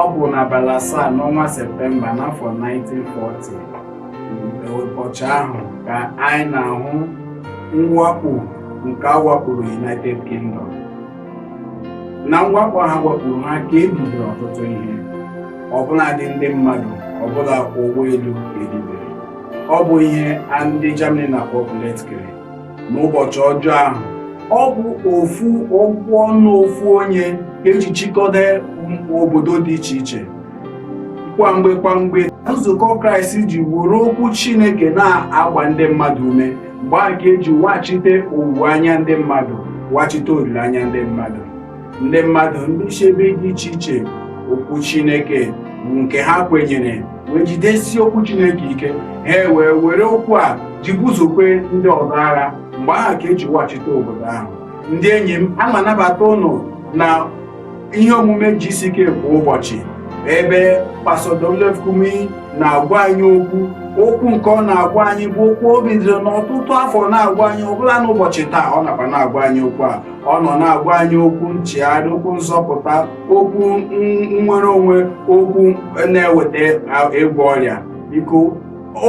ọ bụ n'abalị asaa n'ọnwa septemba n'afọ 1940 mgbe ụbọchị ahụ ka anyị na-ahụ mwakpo nke a wakporo united kingdom na mwakpo ha wakporo ha ka ebibiri ọtụtụ ihe ọbụladị ndị mmadụ ọbụla ụgbọelu ebibiri ọ bụ ihe a ndị germany na-akpọ blitzkrieg n'ụbọchị ọjọọ ahụ ọ bụ ofu okwu ọnụ ofu onye eji chịkọta obodo dị iche iche kwamgbe kwamgbe nzukọ kraịst ji were okwu chineke na-agba ndị mmadụ ume mgbe a ka eji wachite owuwe anya ndị mmadụ wachite olileanya ndị mmadụ ndị mmadụ ndị si ebe dị iche iche okwu chineke nke ha kwenyere wee jidesie okwu Chineke ike ha wee were okwu a ji busokwa ndị ọzọ agha mgbe ahụ ka eji weghachite obodo ahụ ndị enyi m ana m anabata ụnụ na ihe omume GCK kwa ụbọchị ebe Pastor WF Kumuyi na-agwa anyị okwu okwu nke ọ na-agwa anyị bụ okwu o bidoro n'ọtụtụ afọ na-agwa anyị ọbụla n'ụbọchị taa ọ nọkwa na-agwa anyị okwu a ọ nọ na-agwa anyị okwu nchegharị okwu nzọpụta okwu nnwere onwe okwu na-eweta ịgwọ ọrịa biko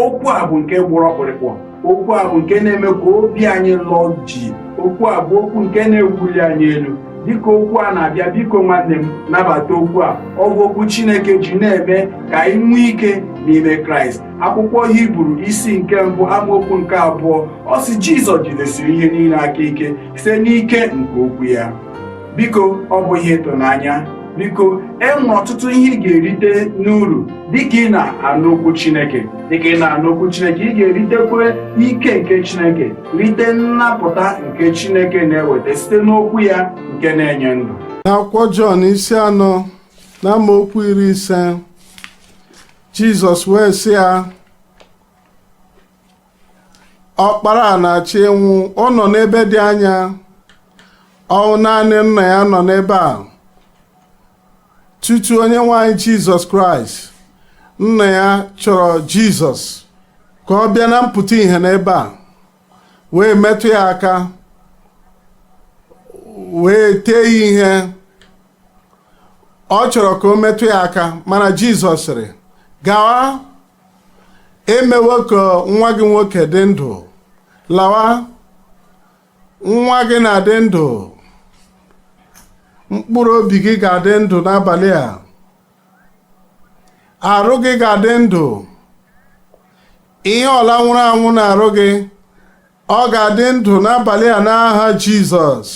okwu a bụ nke gbara ọkpụrụkpụ okwu a bụ nke na-eme ka obi anyị lọọ jii okwu a bụ okwu nke na-ewuli anyị elu dịka okwu a na-abịa biko nwanne m nabata okwu a ọ bụ okwu Chineke ji na-eme ka anyị nwee ike n'ime Kraịst akwụkwọ Hibru isi nke mbụ amaokwu nke abụọ ọ sị Jizọs jidesiri ihe niile aka ike site n'ike nke okwu ya biko ọ bụ ihe ịtụnanya biko enwere ọtụtụ ihe ị ga-erite n'uru dịka ị na-anụ okwu Chineke dịka ị na-anụ okwu Chineke ị ga-eritekwa ike nke Chineke rite nnapụta nke Chineke na-eweta site n'okwu ya nke na-enye ndụ n'akwụkwọ Jọn isi anọ na amaokwu iri ise Jizọs wee sị ya ọkpara a na-achọ ịnwụ ọ nọ n'ebe dị anya ọ bụ naanị nna ya nọ n'ebe a tutu onye nwe anyị jizọs kraịst nna ya chọrọ jizọs ka ọ bịa na mpụta ihe n'ebe a wee metụ ya aka wee tee ya ihe ọ chọrọ ka o metụ ya aka mana jizọs sịrị gawa emewo ka nwa gị nwoke dị ndụ lawa nwa gị na-adị ndụ mkpụrụ obi gị ga-adị ndụ n'abalị a arụ gị ga-adị ndụ ihe ọbụla nwụrụ anwụ n'arụ gị ọ ga-adị ndụ n'abalị a n'aha Jizọs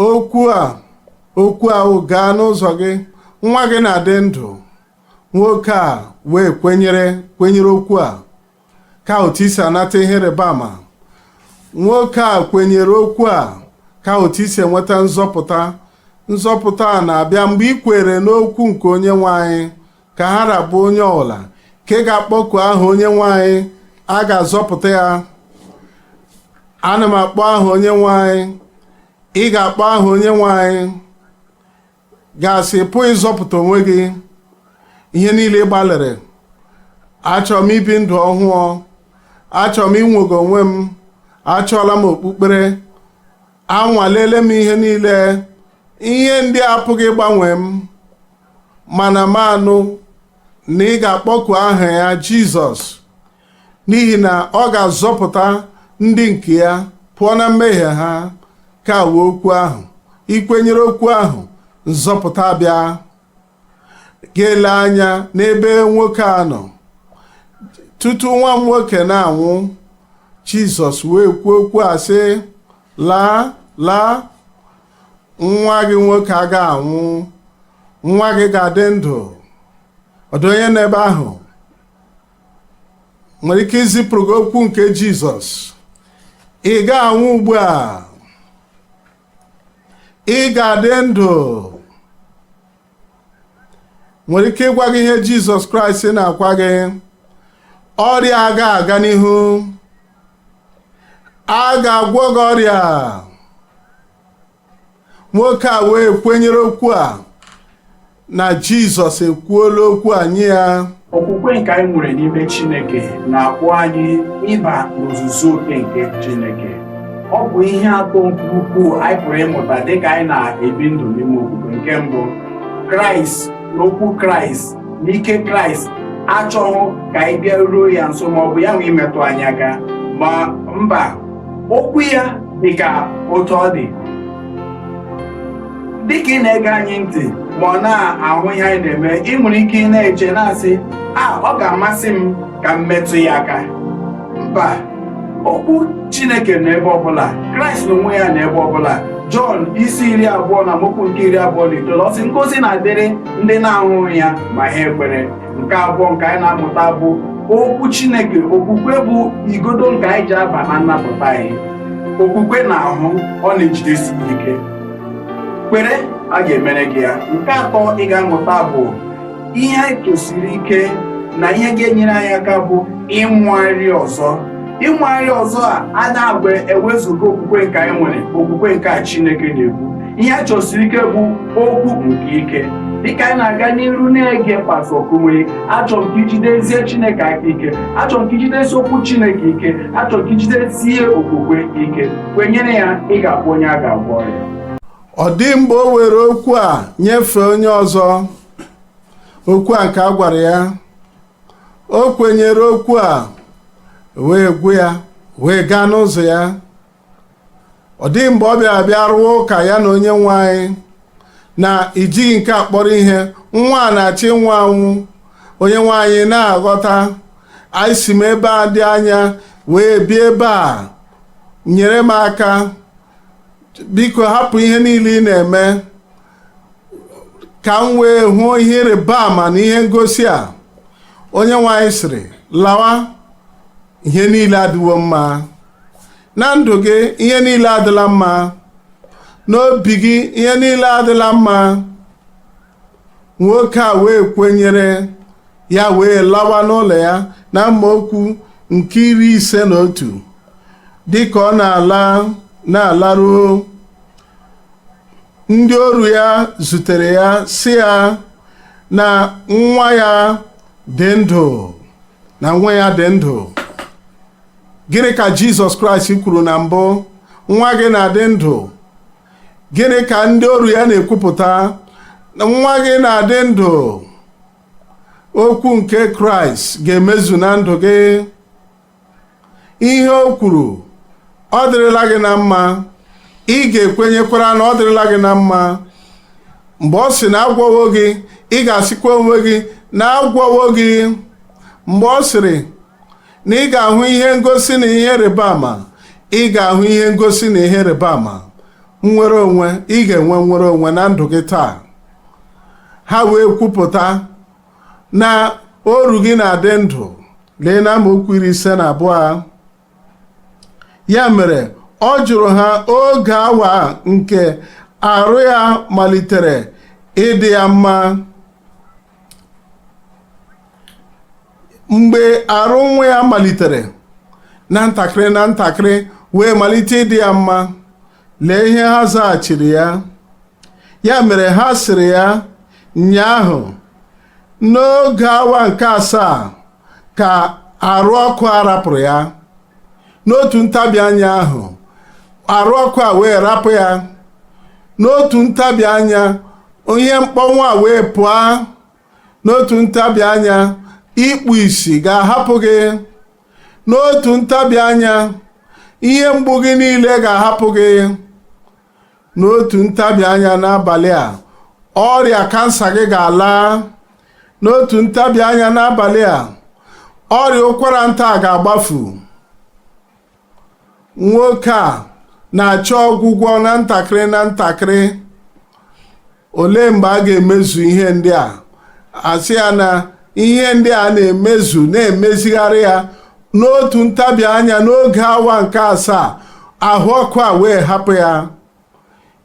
okwu a okwu ahụ gaa n'ụzọ gị nwa gị na-adị ndụ nwoke a wee kwenyere kwenyere okwu a ka otu i si anata ihe ịrịba ama nwoke a kwenyere okwu a ka otu i si enweta nzọpụta nzọpụta a na-abịa mgbe i kwere n'okwu nke onye nwe anyị ka ha ra bụ onye ọbụla nke ga-akpọku aha onye nwe anyị a ga-azọpụta ya ana m akpọ aha onye nwe anyị ị ga-akpọ aha onye nwe anyị ga-asị pụọ ịzọpụta onwe gị ihe niile ị gbalịrị achọrọ m ibi ndụ ọhụụ achọrọ m inwere onwe m achọọla m okpukpere anwaleele m ihe niile ihe ndị a apụghị ịgbanwe m mana m anụ na ị ga-akpọku aha ya Jizọs n'ihi na ọ ga-azọpụta ndị nke ya pụọ na mmehie ha kwere okwu ahụ i kwenyere okwu ahụ nzọpụta abịa gaa lee anya n'ebe nwoke a nọ tutu nwa m nwoke na-anwụ Jizọs wee kwuo okwu a sị laa laa nwa gị nwoke aga anwụ nwa gị ga-adị ndụ ọ dụ onye n'ebe ahụ nwere ike izipụrụ gị okwu nke jizọs ị ga-anwụ ugbu a ị ga-adị ndụ nwere ike ịgwa gị ihe jizọs kraịst na-agwa gị ọrịa aga aga n'ihu a ga-agwọ gị ọrịa nwoke a wee kwenyere okwu a na jizọs ekwuola okwu a nye ya okwukwe nke anyị nwere n'ime chineke na-akpọ anyị ịba n'ozuzu oke nke chineke ọ bụ ihe atọ nke ukwuu anyị pụrụ ịmụta dịka anyị na-ebi ndụ n'ime okwukwe nke mbụ kraịst na okwu kraịst na ike kraịst achọghị ka anyị bịaruo ya nso ma ọ bụ ya nwa imetụ anyị aka ma mba okwu ya dị ka otu ọ dị dịka ị na-ege anyị ntị ma ọ na-ahụ ihe anyị na-eme ị nwere ike ị na-eche na-asị a ọ ga-amasị m ka m metụ ya aka mba okwu chineke nọ ebe ọbụla kraịst n'onwe ya nọ ebe ọbụla jọn isi iri abụọ na amaokwu nke iri abụọ na itoolu ọ sị ngozi na-adịrị ndị na-ahụghị ya ma ha ekwere nke abụọ nke anyị na-amụta bụ okwu chineke okwukwe bụ igodo nke anyị ji aba na nnapụta anyị okwukwe na-ahụ ọ na-ejidesi ike kwere a ga-emere gị ya nke atọ ị ga-amụta bụ ihe a chọsiri ike na ihe ga-enyere anyị aka bụ ịmụgharị ọzọ ịmụgharị ọzọ a a na-agba ewezuga okwukwe nke anyị nwere okwukwe nke a Chineke na-ekwu ihe a chọsiri ike bụ okwu nke ike dịka anyị na-aga n'iru na-ege Pastọ Kumuyi achọrọ m ka ijidesie Chineke aka ike achọrọ m ka ijidesie okwu Chineke ike achọrọ m ka ijidesie okwukwe ike kwenyere ya ị ga-abụ onye a ga-agwọ ọrịa ọ dị mgbe o were okwu a nyefee onye ọzọ okwu a nke a gwara ya o kwenyere okwu a wee gwu ya wee gaa n'ụzọ ya ọ dịghị mgbe ọ bịara bịa rụwa ụka ya na onye nwe anyị na i jighị nke a kpọrọ ihe nwa a na-achọ ịnwụ anwụ onye nwe anyị na-aghọta na esi m ebe a dị anya wee bịa ebe a nyere m aka biko hapụ ihe niile ị na-eme ka m wee hụ ihe ịrịba ama na ihe ngosi a onye nwe anyị sịrị lawa ihe niile adịwo mma na ndụ gị ihe niile adịla mma n'obi gị ihe niile adịla mma nwoke a wee kwenyere ya wee lawa n'ụlọ ya na amaokwu nke iri ise na otu dịka ọ na-ala na-alaruo ndị oru ya zutere ya sị ya na nwa ya dị ndụ na nwa ya dị ndụ gịnị ka jizọs kraịst kwuru na mbụ nwa gị na-adị ndụ gịnị ka ndị oru ya na-ekwupụta nwa gị na-adị ndụ okwu nke kraịst ga-emezu na ndụ gị ihe o kwuru ọ dịrịla gị na mma ị ga-ekwenyekwara na ọ dịrịla gị na mma mgbe ọ sị na agwọwo gị ị ga-asịkwa onwe gị na agwọwo gị mgbe ọ sịrị na ị ga-ahụ ihe ngosi na ihe ịrịba ama ị ga-ahụ ihe ngosi na ihe ịrịba ama nnwere onwe ị ga-enwe nnwere onwe na ndụ gị taa ha wee kwupụta na oru gị na-adị ndụ lee na amaokwu iri ise na abụọ ya mere ọ jụrụ ha oge awa nke arụ ya malitere ịdị ya mma mgbe arụ nwa ya malitere na ntakịrị na ntakịrị wee malite ịdị ya mma lee ihe ha zaghachiri ya ya mere ha sịrị ya nyaahụ n'oge awa nke asaa ka arụ ọkụ a rapụrụ ya n'otu ntabi anya ahụ arụ ọkụ a wee rapụ ya n'otu ntabi anya ihe mkpọnwụ a wee pụọ n'otu ntabi anya ikpu isi ga-ahapụ gị n'otu ntabi anya ihe mgbu gị niile ga-ahapụ gị n'otu ntabi anya n'abalị a ọrịa kansa gị ga-ala n'otu ntabi anya n'abalị a ọrịa ụkwara nta ga-agbafu nwoke a na-achọ ọgwụgwọ na ntakịrị na ntakịrị olee mgbe a ga-emezu ihe ndị a a sị ya na ihe ndị a na-emezu na-emezigharị ya n'otu ntabi anya n'oge awa nke asaa ahụ ọkụ a wee hapụ ya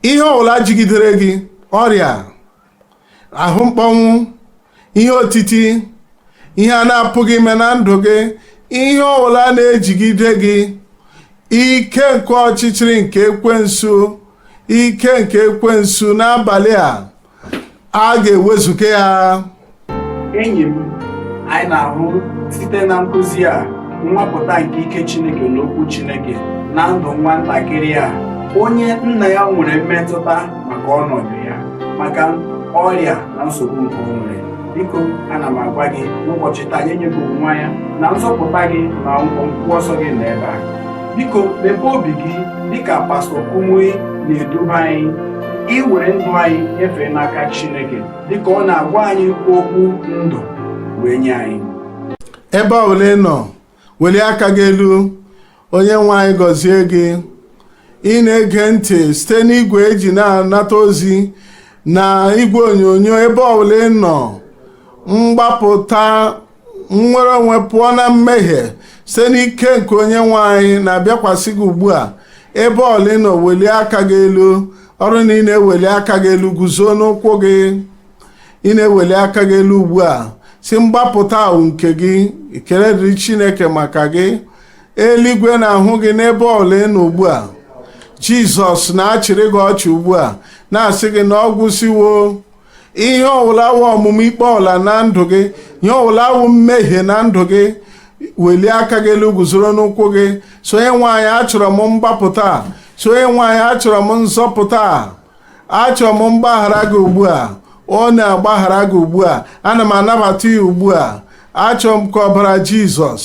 ihe ọbụla jigidere gị ọrịa ahụ mkpọnwụ ihe otiti ihe a na-apụghị ime na ndụ gị ihe ọbụla na-ejigide gị ike nke ọchịchịrị nke ekwensu ike nke ekwensu n'abalị a a ga-ewezuga ya enyi m anyị na-ahụ site na nkụzi a nwapụta nke ike chineke na okwu chineke na ndụ nwa ntakịrị a onye nna ya nwere mmetụta maka ọnọdụ ya maka ọrịa na nsogbu nke o nwere biko ana m agwa gị n'ụbọchị taa nye nyebụ nwa ya na nzọpụta gị na ọgwụgwọ nsọ gị nọ ebe a biko mepee obi gị dịka pastọ Kumuyi na-eduba anyị iwere ndụ anyị nyefee n'aka Chineke dịka ọ na-agwa anyị okwu ndụ wee nye anyị ebe ọbụla ị nọ welie aka gị elu onye nwe anyị gọzie gị ị na-ege ntị site n'igwe e ji na-anata ozi na igwe onyonyo ebe ọbụla ị nọ mgbapụta nnwere onwe pụọ na mmehie site n'ike nke onye nwe anyị na-abịakwasị gị ugbu a ebe ọbụla ị nọ welie aka gị elu ọ bụrụ na ị na-eweli aka gị elu guzo n'ụkwụ gị ị na-eweli aka gị elu ugbu a sị mgbapụta a wụ nke gị ekele dịrị chineke maka gị eluigwe na-ahụ gị n'ebe ọwụla ị nọ ugbu a jizọs na-achịrị gị ọchị ugbu a na-asị gị na ọ gwụsịwo ihe ọwụla wụ ọmụma ikpe ọwụla na ndụ gị ihe ọwụla wụ mmehie na ndụ gị welie aka gị elu guzoro n'ụkwụ gị sị onye nwe anyị achọrọ m mgbapụta sị onye nwe anyị achọrọ m nzọpụta achọrọ m mgbaghara gị ugbu a ọ na-agbaghara gị ugbu a ana m anabata ya ugbu a achọrọ m ka ọbara jizọs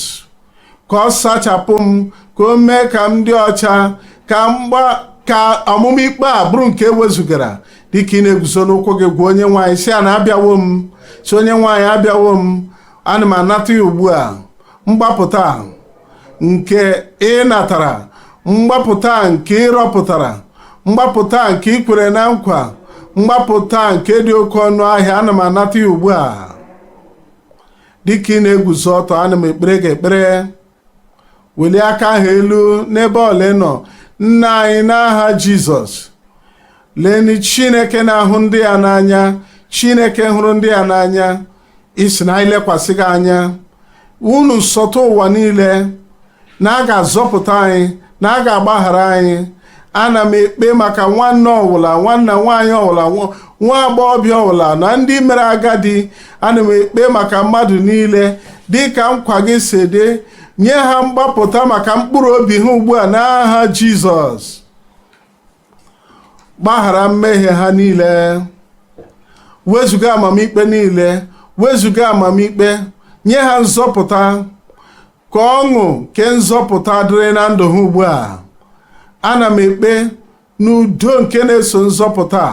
ka ọ sachapụ m ka o mee ka m dị ọcha ka mgba ka ọmụma ikpe a bụrụ nke e wezugara dịka ị na-eguzo n'ụkwụ gị gwa onye nwe anyị sị ya na abịawo m sị onye nwe anyị abịawo m ana m anata ya ugbu a mgbapụta nke ị natara mgbapụta nke ị rọpụtara mgbapụta nke ị kwere na nkwa mgbapụta nke dị oke ọnụ ahịa ana m anata ya ugbu a dịka ị na-eguzo ọtọ ana m ekpere gị ekpere welie aka ahụ elu n'ebe ọwụla ị nọ nna anyị n'aha jizọs lenị chineke na-ahụ ndị ya n'anya chineke hụrụ ndị ya n'anya ị sị na anyị lekwasị gị anya unu nsọtụ ụwa niile na a ga-azọpụta anyị na a ga-agbaghara anyị ana m ekpe maka nwanna ọwụla nwanna nwaanyị ọwụla nwa agbọghọbịa ọwụla na ndị mere agadi ana m ekpe maka mmadụ niile dị ka nkwa gị si dị nye ha mgbapụta maka mkpụrụ obi ha ugbu a n'aha Jizọs gbaghara mmehie ha niile wezuga amamikpe niile wezuga amamikpe nye ha nzọpụta ka ọṅụ nke nzọpụta dịrị na ndụ ha ugbu a ana m ekpe na udo nke na-eso nzọpụta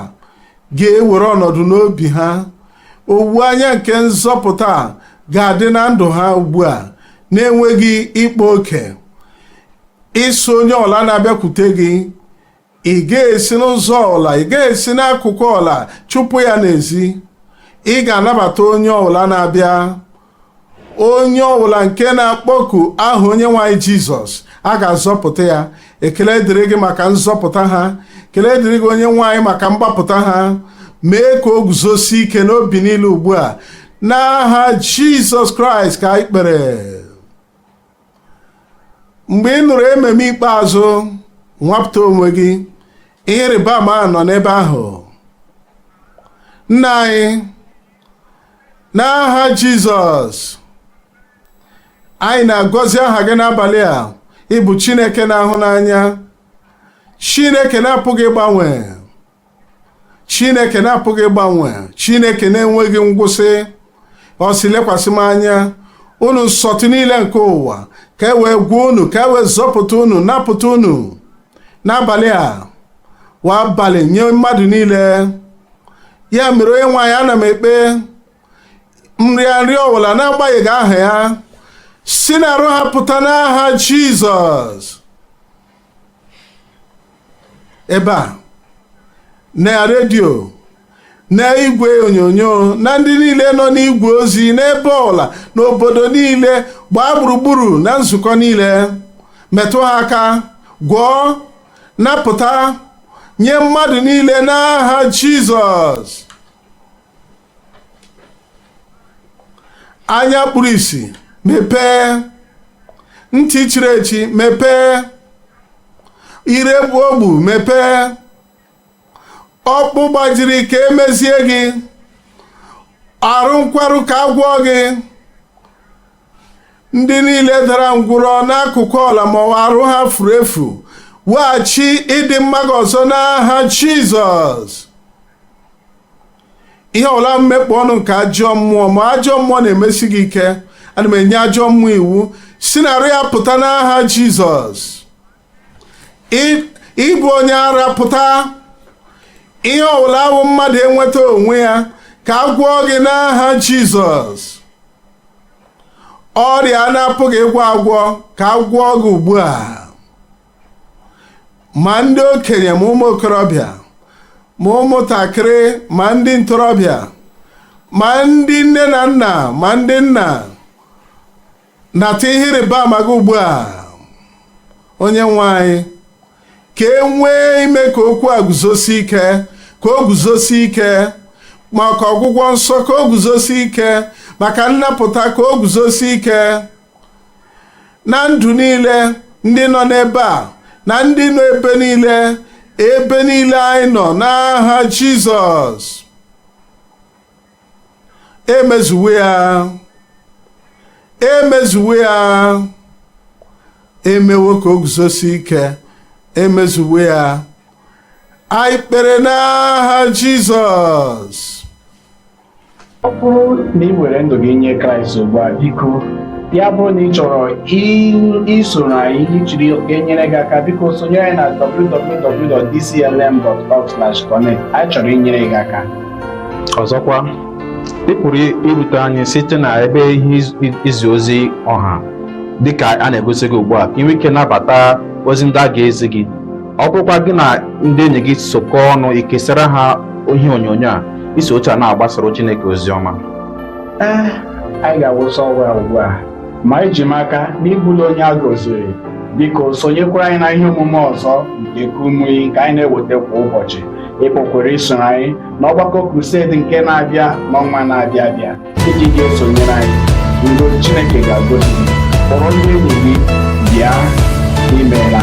ga-ewere ọnọdụ n'obi ha owuwe anya nke nzọpụta ga-adị na ndụ ha ugbu a na-enweghị ịkpa oke ị sị onye ọwụla na-abịakwute gị ị gaghị esi n'ụzọ ọwụla ị gaghị esi n'akụkụ ọwụla chụpụ ya n'ezi ị ga-anabata onye ọwụla na-abịa onye ọbụla nke na-akpọku aha onyenwe anyị jizọs a ga-azọpụta ya ekele dịrị gị maka nzọpụta ha ekele dịrị gị onyenwe anyị maka mgbapụta ha mee ka o guzosie ike n'obi niile ugbu a n'aha jizọs kraịst ka anyị kpere mgbe ị nụrụ amen ikpeazụ nwapụta onwe gị ihe ịrịba ama nọ n'ebe ahụ nna anyị n'aha jizọs anyị na-agọzi aha gị n'abalị a ị bụ chineke na-ahụ n'anya chineke na-apụghị ịgbanwe chineke na-apụghị ịgbanwe chineke na-enweghị ngwụsị ọ sị lekwasị m anya unu nsọtụ niile nke ụwa ka e wee gwọọ unu ka e wee zọpụta unu napụta unu n'abalị a wụ abalị nye mmadụ niile ya mere onyenwe anyị ana m ekpe nrịa nrịa ọbụla n'agbanyeghị aha ya si n'arụ ha pụta n'aha jizọs ebe a na redio na igwe onyonyo na ndị niile nọ n'igwe ozi n'ebe ọwụla n'obodo niile gbaa gburugburu na nzukọ niile metụ ha aka gwọọ napụta nye mmadụ niile n'aha jizọs anya kpuru isi mepee ntị chiri echi mepee ire bụ ogbu mepee ọkpụ gbajiri ka e mezie gị arụ nkwarụ ka a gwọọ gị ndị niile dara ngwụrọ n'akụkụ ọwụla ma ọ wụ arụ ha furu efu weghachi ịdị mma gị ọzọ n'aha Jizọs ihe ọwụla wụ mmekpọ ọnụ nke ajọ mmụọ ma ajọ mmụọ na-emesi gị ike ana m enye ajọ mmụọ iwu si na arụ ya pụta n'aha jizọs Ị- ịbụ onye ara pụta ihe ọwụla awụ mmadụ enweta onwe ya ka a gwọọ gị n'aha jizọs ọrịa a na-apụghị ịgwọ agwọ ka a gwọọ gị ugbu a ma ndị okenye ma ụmụ okorobịa ma ụmụntakịrị ma ndị ntorobịa ma ndị nne na nna ma ndị nna nata ihe ịrịba ama gị ugbu a onye nwe anyị ka e nwee ime ka okwu a guzosi ike ka o guzosi ike maka ọgwụgwọ nsọ ka o guzosi ike maka nnapụta ka o guzosi ike na ndụ niile ndị nọ n'ebe a na ndị nọ ebe niile ebe niile anyị nọ n'aha jizọs emezuwo ya emezuwo ya emewo ka o guzosi ike emezuwo ya anyị kpere n'aha jizọs ọ bụrụ na i were ndụ gị nye kraịst ugbu a biko ya bụrụ na ị chọrọ isoro anyị ijiri enyere gị aka biko sonyere anyị na www.dclm.org/connect anyị chọrọ inyere gị aka ọzọkwa ị pụrụ irute anyị site na ebe ihe izi ozi ọha dịka a na-egosi gị ugbu a ka i nwee ike nabata ozi ndị a ga-ezi gị ọ bụrụkwa gị na ndị enyi gị sokọọ ọnụ ikesara ha ihe onyonyo a i si otu a na-agbasara Chineke ozi ọma ee eh, anyị ga-awụsa ọwa ugbu a ma eji m aka na ị bụla onye a gọziri biko sonyekwara anyị na ihe omume ọzọ nke kumuyi nke anyị na-eweta kwa ụbọchị ị pụkwara isoro anyị n'ọgbakọ crusade nke na-abịa n'ọnwa na-abịa abịa ndị ga-esonyere anyị udo chineke ga-agọzi gị kpọrọ ndị enyi gị bịa imeela